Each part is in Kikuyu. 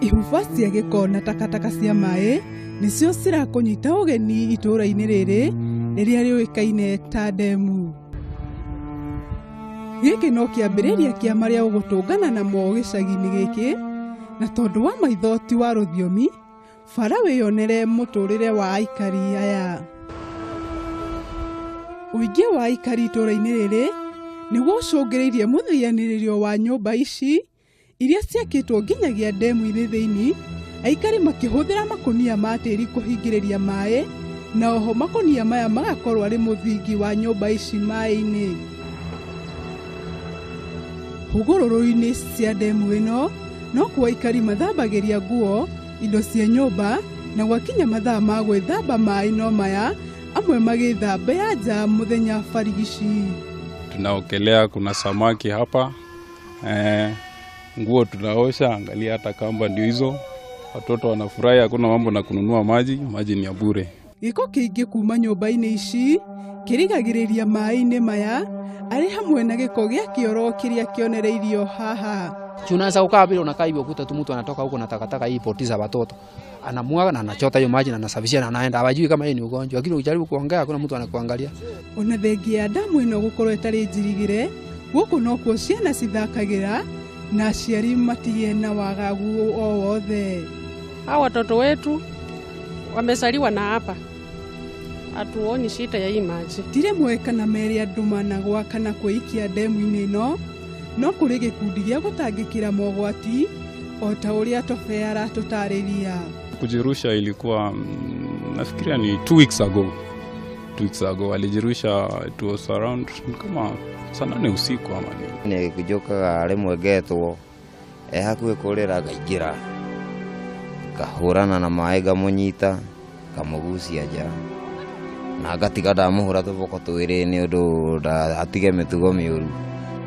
ihumba cia gĩko na takataka cia maĩ nĩcio cirakũnyita ũgeni itũũra-inĩ rĩrĩ rĩrĩa rĩũĩkaine ta ndemu gĩkĩ no kĩambĩrĩria kĩa marĩa ũgũtũngana namo gĩcagi-inĩ gĩkĩ na tondũ wa maitho ti wa rũthiomi bara wĩyonere mũtũrĩre wa aikari aya ũingĩ wa aikari itũũra-inĩ rĩrĩ nĩguo ũcũngĩrĩirie mũthianĩrĩrio wa nyũmba ici iria ciakĩtwo nginyagia ndemu-inĩ thĩinĩ aikari makĩhũthĩra makũnia ma tĩri kũhingĩrĩria maĩ na oho makũnia maya magakorwo arĩ mũthingi wa nyũmba ici maĩ-inĩ hũgũrũrũ-inĩ cia ndemu ĩno no kuo aikari mathambagĩria nguo indo cia nyũmba na gwakinya mathaa ma gwĩthamba maĩ no maya amwe magĩthambia nja mũthenya barigici Tunaogelea, kuna samaki hapa. Eh, nguo tunaosha, angalia hata kamba ndio hizo. Watoto wanafurahi, hakuna mambo na kununua maji, maji ni ya bure. gĩko kĩingĩ kuma nyũmba-inĩ ici kĩrigagĩrĩria maĩ-inĩ maya arĩ hamwe na gĩko gĩa kĩoro kĩrĩa kĩonereirio haha Si unaweza ukaa vile unakaa hivyo, kuta tu mtu anatoka huko na takataka hii poti za watoto. anamwaga na anachota hiyo maji na anasafishia na anaenda, hawajui kama yeye ni ugonjwa, lakini ukijaribu kuongea hakuna mtu anakuangalia. ona thengi ya ndamu ĩno gũkorwo ĩtarĩ njirigĩre gũkũ nokuo ciana cithakagĩra na aciari matigĩe na wagagu o wothe Hawa watoto wetu wamezaliwa na hapa, hatuoni shida ya hii maji. ndirĩ moĩ kana merĩ andũ managwa kana kwĩikia ndemu-inĩ ĩno no kũrĩ gĩkundi gĩa gũtangĩkĩra mogwati o ta ũrĩa tobe aratũtarĩria kujirusha ilikuwa mm, nafikiria ni two weeks ago two weeks ago alijirusha it was around kama saa nane usiku ama nini nä ngä njå kaga rä mwe ngetwo e hakuhĩ kũrĩra ngaingĩra ngahũrana na maĩ ngamũnyita ngamũgucia nja na ngatiga ndamũhũra tũboko twĩrĩ nĩ ũndũ ndatige mĩtugo mĩũru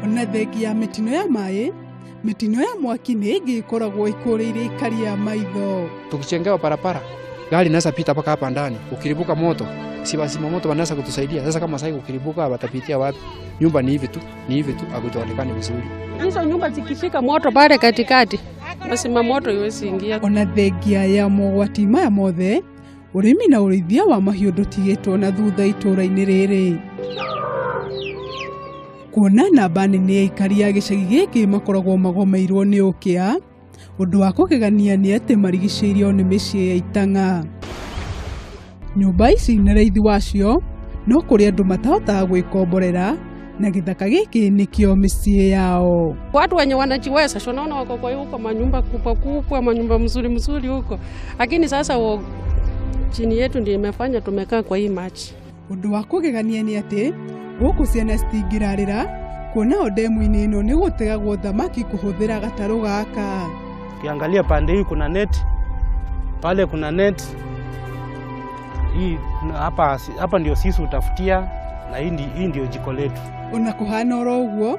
ona thengi ya mĩtino ya maĩ mĩtino ya mwaki nĩ ĩngĩ ĩkoragwo ĩkũrĩire ikari ya maitho tukichengewa barabara gari inaweza pita mpaka hapa ndani ukiribuka moto si wazima moto wanaweza kutusaidia sasa kama sai ukiribuka watapitia wapi nyumba ni hivi tu Ni hivi tu hakujaonekana vizuri. Hizo nyumba zikishika moto pale katikati, basi mamoto iwezi ingia. ona thengia ya mogwati maya mothe ũrĩmi na ũrĩithia wa mahiũ ndũtigĩtwo na thutha itũũra-inĩ rĩrĩ kuona namba nene ya aikari a gĩcagi gĩkĩ makoragwo magomeirwo nĩ ũkĩa Ũndũ wa kũgegania nĩ atĩ marigicĩirio nĩ mĩciĩ ya itang'a. Nyũmba ici na raithi wacio no kũrĩ andũ matahotaga gwĩkomborera na gĩthaka gĩkĩ nĩkĩo mĩciĩ yao. Watu wenye wanajiweza sio naona wako kwa huko manyumba kubwa kubwa, manyumba mzuri mzuri huko, lakini sasa wo, chini yetu ndio imefanya tumekaa kwa hii maji. ũndũ wa kũgegania nĩ atĩ gũkũ ciana citingĩrarĩra kuona o ndemu-inĩ ĩno nĩ gũtegagwo thamaki kũhũthĩra gatarũ gaka Ukiangalia pande hii kuna net, pale kuna net. Hii na hapa hapa ndio sisi utafutia na hii ndi- hii ndio jiko letu. ona kũhana oro ũguo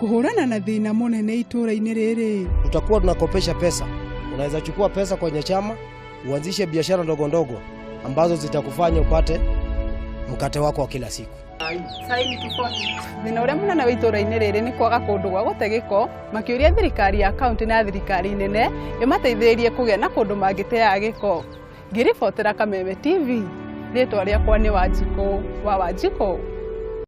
Kũhũrana na thĩna mũnene itũũra-inĩ rĩrĩ. Tutakuwa tunakopesha pesa. Unaweza chukua pesa kwenye chama uanzishe biashara ndogo ndogo ambazo zitakufanya upate mkate wako wa kila siku. Thĩna ũrĩa mũnene wa itũũra-inĩ rĩrĩ nĩ kwaga kũndũ gwa gũte gĩko, makĩũria thirikari ya kaunti na thirikari nene ĩmateithĩrĩrie kũgĩa na kũndũ mangĩteaga gĩko. Ngĩribotera Kameme TV, rĩtwa rĩakwa nĩ Wanjikũ wa Wanjikũ.